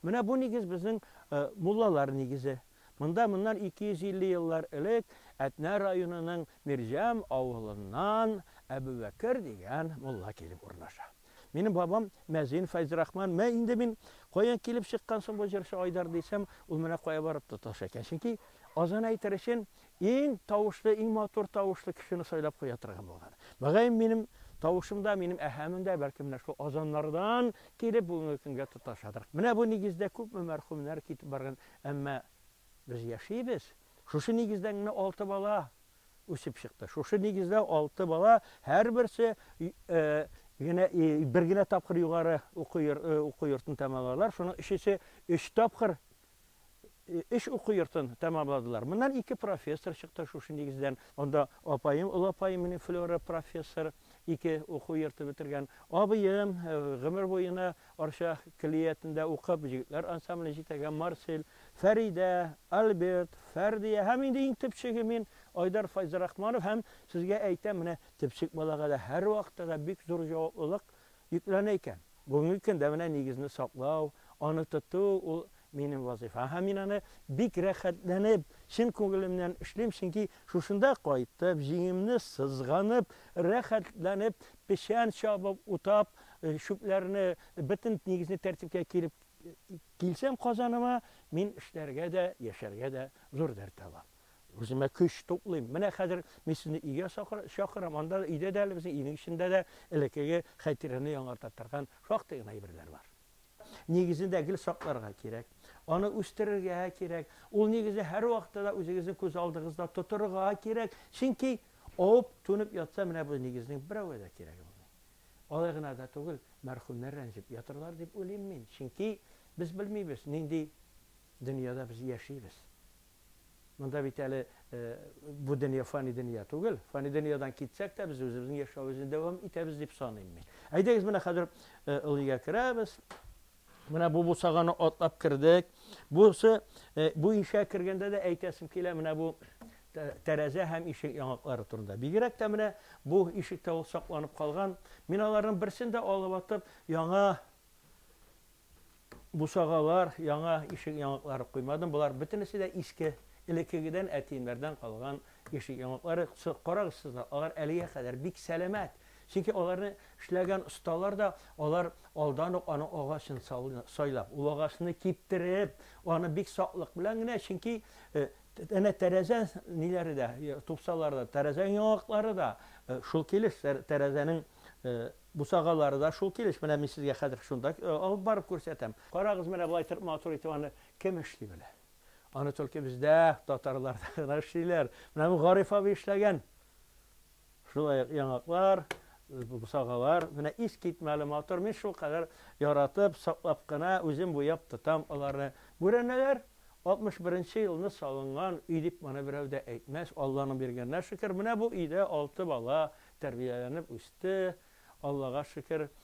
Менә бу нигез безнең муллалар нигезе. Монда моннан 250 еллар элек Әтнә районының Мирҗәм авылыннан Әбүбәкер дигән мулла килеп урнаша. Минем бабам мәзин Фәйзрахман. Мә инде мин каян килеп чыккан соң бу җырчы Айдар дисәм, ул менә кая барып тоташа икән. Чөнки азан әйтер өчен Иң тавышлы, иң матур тавышлы кешене сайлап куя торган булган. Мөгаен, минем тавышым да, минем әһәмем дә, бәлки, менә шул Азаннардан килеп, бүгенге көнгә тоташадыр. Менә бу нигездә күпме мәрхүмнәр китеп барган, әмма без яшибез. Шушы нигездән генә алты бала үсеп чыкты. Шушы нигездә алты бала, һәрберсе генә бер генә тапкыр югары уку йортын тәмамладылар. Шуның өчесе өч тапкыр өч уку йортын тәмамладылар. Моннан ике профессор чыкты шушы нигездән. Анда апаем, олы апаем менә Флера профессор, ике уку йорты бетергән. Абыем гомер буена Арча көллиятендә укып, җегетләр ансамблен җитәгән Марсель, Фәридә, Альберт, Фәрдия һәм инде иң төпчеге мин, Айдар Файзрахманов һәм сезгә әйтәм, менә төпчек балага да һәрвакытта да бик зур җаваплылык, Йөкләнә икән. Бүгенге көндә менә нигезне саклау, аны тоту, ул минем вазыйфа. Һәм мин аны бик рәхәтләнеп, чын күңелемнән эшлим, чөнки шушында кайтып, җиңемне сызганып, рәхәтләнеп, печән чабып, утап, чүпләрне, бөтен нигезне тәртипкә килеп килсәм Казаныма, мин эшләргә дә, яшәргә дә зур дәрт алам. Үземә көч туплыйм. Менә хәзер мин сезне өйгә чакырам, анда да, өйдә дә әле безнең өйнең эчендә дә элеккеге хәтирәне яңарта торган шактый гына әйберләр бар. Нигезендә гел сакларга кирәк. Аны үстерергә кирәк. Ул нигезне һәрвакытта да үзегезнең күз алдыгызда тотырга кирәк. Чөнки авып, түнеп ятса, менә бу нигезнең берәүгә дә кирәге булмый. Алай гына да түгел, мәрхүмнәр рәнҗеп ятырлар дип уйлыйм мин. Чөнки без белмибез, нинди дөньяда без яшибез. Монда бит әле бу дөнья фани дөнья түгел. Фани дөньядан китсәк тә, без үзебезнең яшәвебезне дәвам итәбез дип саныйм мин. Әйдәгез, менә хәзер Ылыйга керәбез. Менә бу бусаганы атлап кердек. Бусы бу ишә кергәндә дә әйтәсем килә, менә бу тәрәзә һәм ишек яңаклары турында. Бигрәк тә менә бу ишектә ул сакланып калган. Мин аларның берсен дә алып атып, яңа Бусагалар, яңа ишек яңаклары куймадым, болар бөтенесе дә иске, элеккегедән, әтиемнәрдән калган ишек яңаклары. Карагыз сез дә, алар әлегә кадәр бик сәламәт, чөнки аларны эшләгән осталар да, алар алдан ук аның агачын сайлап, ул агачны киптереп, аны бик саклык белән генә, чөнки әнә тәрәзә ниләре дә, тупсалары да, тәрәзә яңаклары да шул килеш, тәрәзәнең Бусагалары да шул килеш. Менә мин сезгә хәзер шунда алып барып күрсәтәм. Карагыз, менә болай итеп матур итеп аны кем эшли белә? Аны только бездә, татарларда гына эшлиләр. Менә бу Гариф абый эшләгән. Шулай ук яңаклар, бусагалар. Менә искитмәле матур. Мин шулкадәр яратып, саклап кына үзем буяп тотам аларны. Бүрәнәләр Алтмыш беренче елны салынган өй дип моны берәү дә әйтмәс, Алланың биргәненә шөкер, менә бу өйдә алты бала тәрбияләнеп үсте, Аллага шөкер.